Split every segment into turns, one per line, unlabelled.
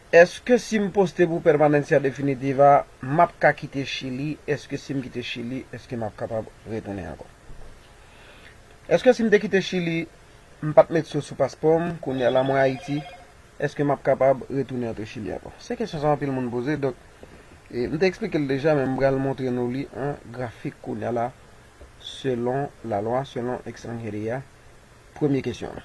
Eske sim poste pou permanencia definitiva map ka kite chili eske sim kite chili eske map kapab retounen ankò eske sim te kite chili m pat met so sou paspòm kounya la mwen ayiti eske map kapab retounen antre chili ankò se kesyon sa anpil moun poze donk m te eksplike l deja men m pral montre nou li an grafik kounya la selon la lwa selon extranheria premye kesyon.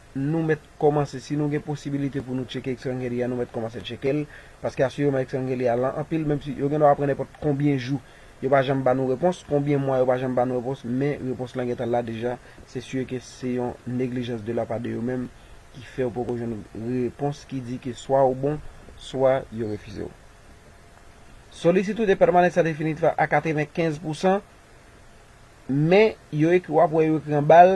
nou mèt kòmanse, si nou gen posibilite pou nou tcheke Extrangelia, nou mèt kòmanse tcheke l, paske asireman Extrangelia lan anpil, menm si yo gen dwa ap pran nenpòt konbyen jou, yo pa janm ba nou repons, konbyen mwa yo pa janm ba nou repons, men repons lan gentan la deja, se sûr ke se yon neglijans de la pa de yo menm ki fè ou poko jwenn repons ki di ke swa ou bon, swa yo refize ou. Solicitud de permanencia definitiva a 95 pousan, men yo ekri w ap wè yo ekri anba l,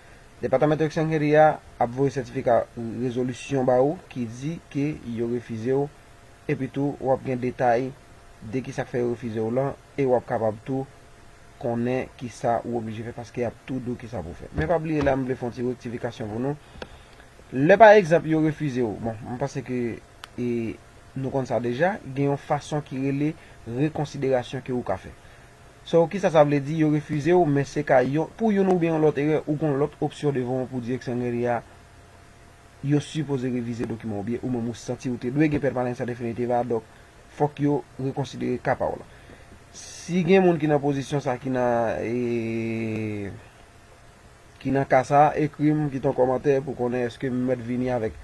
Department of Sanheri a ap voye sètifika rezolisyon ba ou ki di ke yo refize w epi tou w ap gen detay de kisa k fè yo refize w lan e w ap kapab tou konnen kisa ou oblije fè paske y ap tou di w kisa pou w fè. Men pa bliye la m vle fè yon ti rektifikasyon pou nou. Lè pa egzanp yo refize w, bon m panse ke e nou konn sa deja, gen yon fason ki rele rekonsiderasyon ke ou ka fè. So kisa sa vle di yo refize w men se ka yon pou youn oubyen yon lòt erè ou gon lòt opsyon devan w pou direksyon meri a yo sipoze revize dokiman oubyen ou menm ou santi ou te dwe gen pènmanans an definitiv a donk fòk yo rekonsidere ka pa w lan. Si gen moun ki nan pozisyon sa ki nan ki nan ka sa ekri m kite yon kòmantè pou konnen eske m mèt vini avèk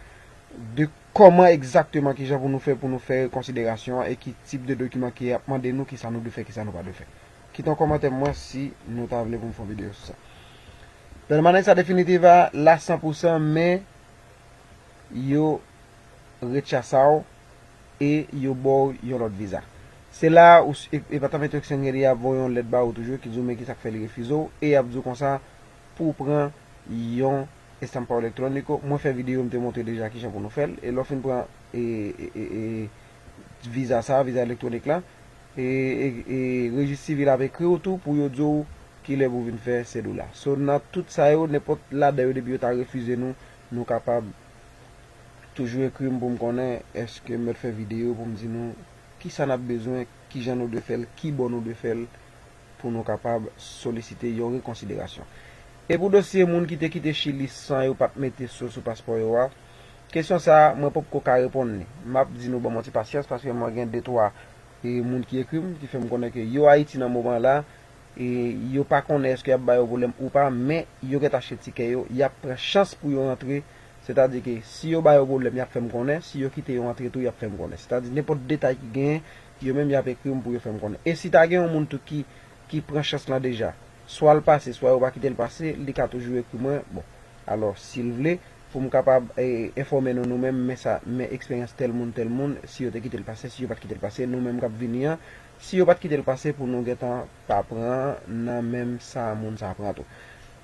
de Kòman egzakteman kijan pou nou fè pou nou fè rekonsiderasyon an e ki tip de dokiman ki ap mande nou kisa nou dwe fè kisa nou pa dwe fè. Kite yon kòmantè pou mwen si nou ta vle pou m fè yon videyo sou sa. Permanencia definitiva la san pou san men yo rechasa w e yo ba w yon lòt viza. Se la ou Departamento Extranjeria ap voye yon lèt ba ou toujou ki di w men kisa k fè li refize w e y ap di w konsa pou w pran yon Estampao Electronico, mwen fè video m te montre deja kijan pou nou fèl e lè w fin pran viza sa, viza electronic la e rejis sivil ap ekri w tou pou yo di w kilè pou vin fè cedula. So nan tout sa yo nenpòt ladan yo depi yo ta refize nou, nou kapab toujou ekri m pou m konnen eske m mèt fè video pou m di nou kisa nap bezwen, kijan nou dwe fèl, kibò nou dwe fèl pou nou kapab solisite yon rekonsiderasyon. E pou dosye moun ki te kite Chili san yo pat mete so sou paspò yo a, kesyon sa a mwen poko ka reponn li. M ap di nou ban mwen ti pasyans paske mwen gen de twa moun ki ekri m ki fè m konnen ke yo Ayiti nan moman la, e yo pa konnen eske y ap ba yo pwoblèm ou pa men yo gen ta achte tikè yo, y ap pran chans pou yo rantre, sètadi ke si yo ba yo pwoblèm y ap fè m konnen, si yo kite yo antre tou y ap fè m konnen. Sètadi nenpòt detay ki genyen, Yo menm yap ekri m pou yo fè m konnen. E si ta gen yon moun tou ki ki pran chans lan deja? Swa l pase, swa yo pa kite l pase, li ka toujou ekri mwen, bon. Alò, si l vle, pou m kapab e enfòme nou nou menm, men sa, men eksperyans tèl moun, tèl moun, si yo te kite l pase, si yo pa t kite l pase, nou menm k ap vini an, si yo pa t kite l pase pou nou gentan pa pran nan menm sa moun sa pran tou.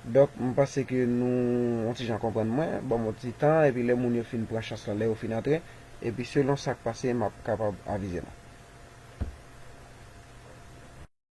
Donk, m panse ke nou yon ti jan konprann mwen, ban m yon ti tan, epi lè moun yo fin pran chans lan, lè yo fin antre. Epi selon sak pase map kapab avize nou.